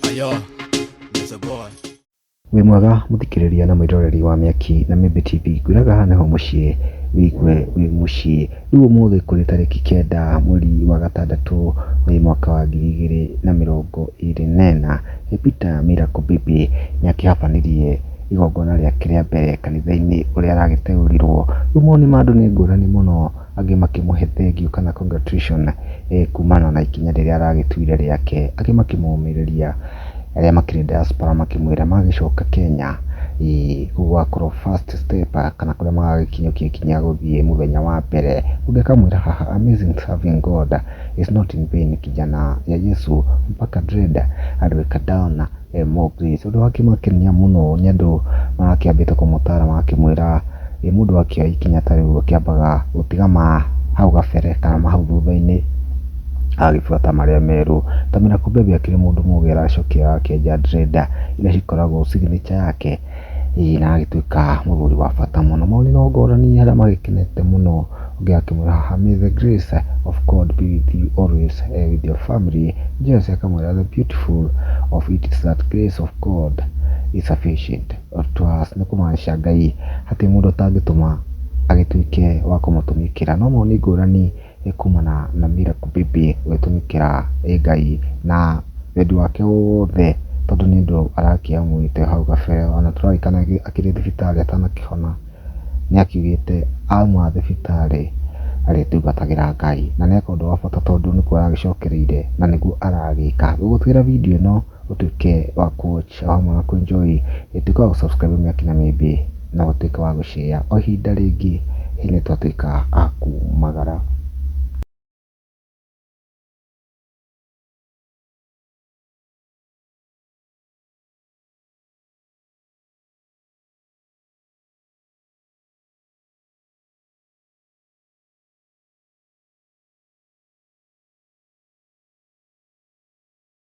Ayo, there's a boy. wĩ mwega mũthikĩrĩria na mwĩroreri wa mĩaki na mĩmbi tv ngwĩraga haha nĩho mũciĩ wĩigue wĩ mũciĩ rĩu ũmũthĩ kũrĩ tarĩki kenda mweri wa gatandatũ wĩ mwaka wa ngiri igĩrĩ na mĩrongo ĩrĩ na ĩna nĩ peter miracle baby nĩ akĩhabanirie igongona rĩake rĩa mbere kanitha-inĩ ũrĩa aragĩteũrirwo rĩu mawoni ma andũ nĩ ngũrani mũno angĩ makĩmũhe thengiũ kana congratulation kumana na ikinya rĩrĩa aragĩtuire rĩake, angĩ makĩmũmĩrĩria arĩa makĩrĩ diaspora makĩmwĩra magĩcoka Kenya gũgakorwo first step kana kũrĩa magagĩkinyũkia ikinya gũthiĩ mũthenya wa mbere. Ũngĩ akamwĩra haha amazing serving God is not in vain kijana ya Yesu mpaka dread aliweka down. Mũkristo. Ũndũ wakĩmakenia mũno nĩ andũ marakĩambĩte kũmũtara magakĩmwĩra ĩ mũndũ akĩoya ikinya ta rĩu akĩambaga gũtiga ma hau kabere kana ma hau thutha-inĩ agagĩbuata marĩa merũ. Kamila kumbe akĩrĩ mũndũ mũgĩ aracokia akĩenja dreader iria cikoragwo signature yake. ĩĩ na agĩtuĩka mũgũri wa bata mũno. Maũndũ no ngũrani arĩa magĩkenete mũno ũngĩ akĩmwĩra haha may the grace of God be with you always and with your family Jesse akamwĩra the beautiful of it is that grace of God is sufficient to us nĩ kũmaanisha Ngai hatirĩ mũndũ ũtangĩtũma agĩtuĩke wa kũmũtũmĩkĩra no maũndũ nĩ ngũrani. nĩ kumana na miracle baby gwĩtũmĩkĩra ĩ Ngai na wendi wake wothe tondũ nĩ ũndũ arakĩamũĩte hau kabere. Ona tũraririkana akĩrĩ thibitarĩ atanakĩhona nĩ akiugĩte auma thibitarĩ arĩtungatagĩra Ngai. Na nĩ eka ũndũ wa bata tondũ nĩkuo aragĩcokereire na nĩguo aragĩka. Gũgĩkĩra video ĩno... ũtuĩke wa kũwatch o hamwe na kũenjoy, tuĩka wa gũsubscribe Mĩaki na Mĩĩmbĩ na ũtuĩke wa gũshare. O ihinda rĩngĩ nĩ twatuĩka a kumagara.